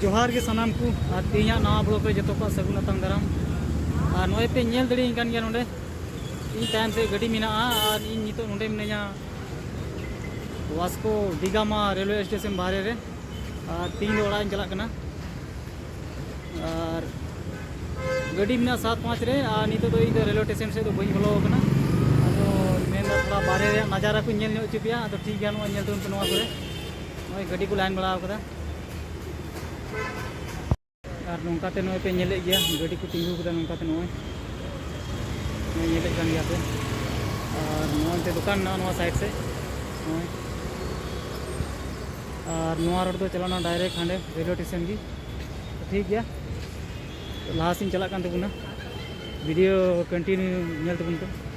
ᱡᱚᱦᱟᱨ ᱜᱮ ᱥᱟᱱᱟᱢ ᱠᱚ ᱟᱨ ᱛᱮᱦᱮᱧᱟᱜ ᱱᱟᱣᱟ ᱵᱞᱚᱜ ᱨᱮ ᱡᱚᱛᱚ ᱠᱚᱣᱟᱜ ᱥᱟᱹᱜᱩᱱ ᱟᱛᱟᱝ ᱫᱟᱨᱟᱢ ᱟᱨ ᱱᱚᱜᱼᱚᱭ ᱯᱮ ᱧᱮᱞ ᱫᱟᱲᱮᱭᱟᱹᱧ ᱠᱟᱱ ᱜᱮᱭᱟ ᱱᱚᱰᱮ ᱤᱧ ᱛᱟᱭᱚᱢ ᱥᱮᱫ ᱜᱟᱹᱰᱤ ᱢᱮᱱᱟᱜᱼᱟ ᱟᱨ ᱤᱧ ᱱᱤᱛᱚᱜ ᱱᱚᱰᱮ ᱢᱤᱱᱟᱹᱧᱟ ᱣᱟᱥᱠᱳ ᱰᱤᱜᱟᱢᱟ ᱨᱮᱞᱣᱮ ᱥᱴᱮᱥᱚᱱ ᱵᱟᱦᱨᱮ ᱨᱮ ᱟᱨ ᱛᱮᱦᱮᱧ ᱫᱚ ᱚᱲᱟᱜ ᱤᱧ ᱪᱟᱞᱟᱜ ᱠᱟᱱᱟ ᱟᱨ ᱜᱟᱹᱰᱤ ᱢᱮᱱᱟᱜᱼᱟ ᱥᱟᱛ ᱯᱟᱸᱪ ᱨᱮ ᱟᱨ ᱱᱤᱛᱚᱜ ᱫᱚ ᱤᱧ ᱫᱚ ᱨᱮᱞᱣᱮ ᱥᱴᱮᱥᱚᱱ ᱥᱮᱫ ᱫᱚ ᱵᱟᱹᱧ ᱵᱚᱞᱚ ᱟᱠᱟᱱᱟ ᱟᱫᱚ ᱢᱮᱱᱫᱟ ᱛᱷᱚᱲᱟ ᱵᱟᱦᱨᱮ ᱨᱮᱭᱟᱜ ᱱᱟᱡᱟᱨᱟ ᱠᱚᱧ ᱧᱮᱞ ᱧᱚᱜ ᱦᱚᱪᱚ ᱯᱮᱭᱟ ᱟᱫᱚ ᱴᱷᱤᱠ ᱜᱮᱭᱟ ᱱᱚᱜᱼᱚᱭ ᱧᱮᱞ ᱛᱟᱵᱚᱱ ᱯᱮ ᱱᱚᱣᱟ ᱠᱚᱨᱮ ᱱᱚᱜᱼᱚᱭ ᱜᱟᱹᱰᱤ ᱠᱚ ᱞᱟᱭᱤᱱ ᱵᱟᱲᱟ ᱟᱠᱟᱫᱟ ᱟᱨ ᱱᱚᱝᱠᱟᱛᱮ ᱱᱚᱜᱼᱚᱭ ᱯᱮ ᱧᱮᱞᱮᱫ ᱜᱮᱭᱟ ᱜᱟᱹᱰᱤ ᱠᱚ ᱛᱤᱸᱜᱩ ᱟᱠᱟᱫᱟ ᱱᱚᱝᱠᱟᱛᱮ ᱱᱚᱜᱼᱚᱭ ᱱᱚᱜᱼᱚᱭ ᱧᱮᱞᱮᱫ ᱠᱟᱱ ᱜᱮᱭᱟ ᱯᱮ ᱟᱨ ᱱᱚᱜᱼᱚᱭ ᱛᱮ ᱫᱚᱠᱟᱱ ᱢᱮᱱᱟᱜᱼᱟ ᱱᱚᱣᱟ ᱥᱟᱭᱤᱰ ᱥᱮᱫ ᱱᱚᱜᱼᱚᱭ ᱟᱨ ᱱᱚᱣᱟ ᱨᱳᱰ ᱫᱚ ᱪᱟᱞᱟᱣᱱᱟ ᱰᱟᱭᱨᱮᱠᱴ ᱦᱟᱸᱰᱮ ᱨᱮᱞᱣᱮ ᱥᱴᱮᱥᱚᱱ ᱜᱮ ᱴᱷᱤᱠ ᱜᱮᱭᱟ ᱞᱟᱦᱟ ᱥᱮᱫ ᱪᱟᱞᱟᱜ ᱠᱟᱱ ᱛᱟᱵᱚᱱᱟ ᱵᱷᱤᱰᱤᱭᱳ ᱠᱚᱱᱴᱤᱱᱤᱭᱩ ᱧᱮᱞ ᱛᱟᱵᱚᱱ ᱯᱮ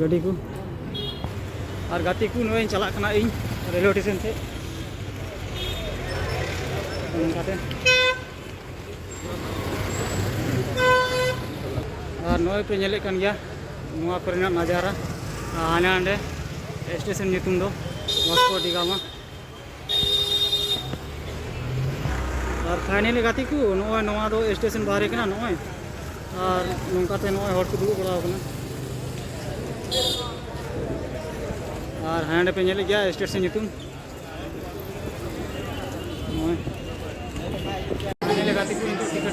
ᱜᱟᱹᱰᱤ ᱠᱚ ᱟᱨ ᱜᱟᱛᱮ ᱠᱚ ᱱᱚᱜᱼᱚᱭ ᱪᱟᱞᱟᱜ ᱠᱟᱱᱟ ᱤᱧ ᱨᱮᱞᱣᱮ ᱥᱴᱮᱥᱚᱱ ᱥᱮᱫ ᱚᱱᱠᱟᱛᱮ ᱟᱨ ᱱᱚᱜᱼᱚᱭ ᱯᱮ ᱧᱮᱞᱮᱫ ᱠᱟᱱ ᱜᱮᱭᱟ ᱱᱚᱣᱟ ᱠᱚᱨᱮᱱᱟᱜ ᱱᱟᱡᱟᱨᱟ ᱦᱟᱸᱰᱮ ᱱᱟᱸᱰᱮ ᱥᱴᱮᱥᱚᱱ ᱧᱩᱛᱩᱢ ᱫᱚ ᱵᱷᱟᱥᱠᱳ ᱰᱤ ᱜᱟᱢᱟ ᱟᱨ ᱯᱷᱟᱭᱱᱟᱞᱤ ᱜᱟᱛᱮ ᱠᱚ ᱱᱚᱜᱼᱚᱭ ᱱᱚᱣᱟ ᱫᱚ ᱥᱴᱮᱥᱚᱱ ᱵᱟᱦᱨᱮ ᱠᱟᱱᱟ ᱱᱚᱜᱼᱚᱭ ᱟᱨ ᱱᱚᱝᱠᱟᱛᱮ ᱱᱚᱜᱼᱚᱭ ᱦᱚᱲ ᱠᱚ ᱫᱩᱲᱩᱵ ᱵᱟᱲᱟᱣ ᱠᱟᱱᱟ ᱟᱨ ᱦᱟᱸᱰᱮ ᱯᱮ ᱧᱮᱞᱮᱫ ᱜᱮᱭᱟ ᱥᱴᱮᱥᱚᱱ ᱧᱩᱛᱩᱢ ᱱᱚᱜᱼᱚᱭ ᱯᱷᱟᱭᱱᱟᱞᱤ ᱜᱟᱛᱮ ᱠᱚ ᱱᱤᱛᱚᱜ ᱴᱤᱠᱤᱴ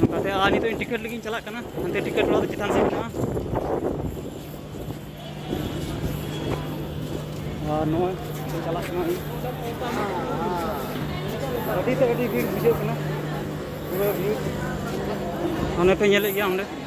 ᱚᱱᱠᱟᱛᱮ ᱟᱨ ᱱᱤᱛᱚᱜ ᱤᱧ ᱴᱤᱠᱤᱴ ᱞᱟᱹᱜᱤᱫ ᱪᱟᱞᱟᱜ ᱠᱟᱱᱟ ᱦᱟᱱᱛᱮ ᱴᱤᱠᱤᱴ ᱚᱲᱟᱜ ᱫᱚ ᱪᱮᱛᱟᱱ ᱥᱮᱫ ᱢᱮᱱᱟᱜᱼᱟ ᱟᱨ ᱱᱚᱜᱼᱚᱭ ᱪᱟᱞᱟᱜ ᱠᱟᱱᱟ ᱟᱹᱰᱤ ᱛᱮ ᱟᱹᱰᱤ ᱵᱷᱤᱲ ᱵᱩᱡᱷᱟᱹᱜ ᱠᱟᱱᱟ ᱯᱩᱨᱟᱹ ᱵᱷᱤᱲ ᱚᱱᱮ ᱯᱮ ᱧᱮᱞᱮᱫ ᱜᱮᱭᱟ ᱚᱸᱰᱮ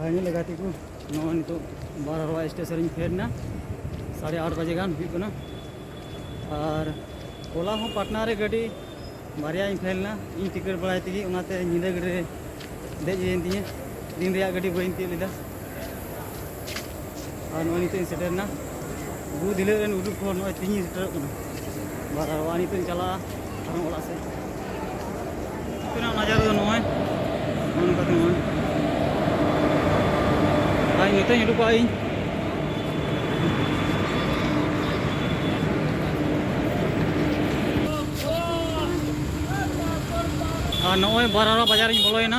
ᱯᱷᱟᱭᱱᱮᱞ ᱜᱟᱛᱮ ᱠᱚ ᱱᱚᱣᱟ ᱱᱤᱛᱚᱜ ᱵᱟᱨᱦᱟᱣᱟ ᱥᱴᱮᱥᱚᱱ ᱨᱤᱧ ᱯᱷᱮᱰ ᱮᱱᱟ ᱥᱟᱲᱮ ᱟᱴ ᱵᱟᱡᱮ ᱜᱟᱱ ᱦᱩᱭᱩᱜ ᱠᱟᱱᱟ ᱟᱨ ᱦᱚᱞᱟ ᱦᱚᱸ ᱯᱟᱴᱱᱟ ᱨᱮ ᱜᱟᱹᱰᱤ ᱵᱟᱨᱭᱟᱧ ᱯᱷᱮᱞ ᱮᱱᱟ ᱤᱧ ᱴᱤᱠᱤᱴ ᱵᱟᱲᱟᱭ ᱛᱮᱜᱮ ᱚᱱᱟᱛᱮ ᱧᱤᱫᱟᱹ ᱜᱟᱹᱰᱤ ᱨᱮ ᱫᱮᱡ ᱦᱩᱭᱮᱱ ᱛᱤᱧᱟᱹ ᱫᱤᱱ ᱨᱮᱭᱟᱜ ᱜᱟᱹᱰᱤ ᱵᱟᱹᱧ ᱛᱤᱭᱳᱜ ᱞᱮᱫᱟ ᱟᱨ ᱱᱚᱜᱼᱚᱭ ᱱᱤᱛᱚᱜ ᱤᱧ ᱥᱮᱴᱮᱨᱱᱟ ᱵᱩᱨᱩ ᱫᱷᱤᱞᱟᱹ ᱨᱮᱱ ᱩᱫᱩᱜ ᱠᱚ ᱱᱚᱜᱼᱚᱭ ᱛᱤᱧᱤᱧ ᱥᱮᱴᱮᱨᱚᱜ ᱠᱟᱱᱟ ᱵᱟᱨ ᱟᱨ ᱱᱤᱛᱚᱜ ᱤᱧ ᱪᱟᱞᱟᱜᱼᱟ ᱟᱨᱦᱚᱸ ᱚᱲᱟᱜ ᱥᱮᱫ ᱛᱤᱱᱟᱹᱜ ᱱᱟᱡᱟᱨ ᱫᱚ ᱱᱚᱜᱼᱚᱭ ᱱᱚᱜᱼᱚ ᱱᱚᱝᱠᱟᱛᱮ ᱱᱚᱜᱼᱚᱭ ᱟᱨ ᱱᱤᱛᱚᱜ ᱤᱧ ᱩᱰᱩᱠᱚᱜᱼᱟ ᱤᱧ ᱟᱨ ᱱᱚᱜᱼᱚᱭ ᱵᱟᱨᱟᱨᱟ ᱵᱟᱡᱟᱨᱤᱧ ᱵᱚᱞᱚᱭᱮᱱᱟ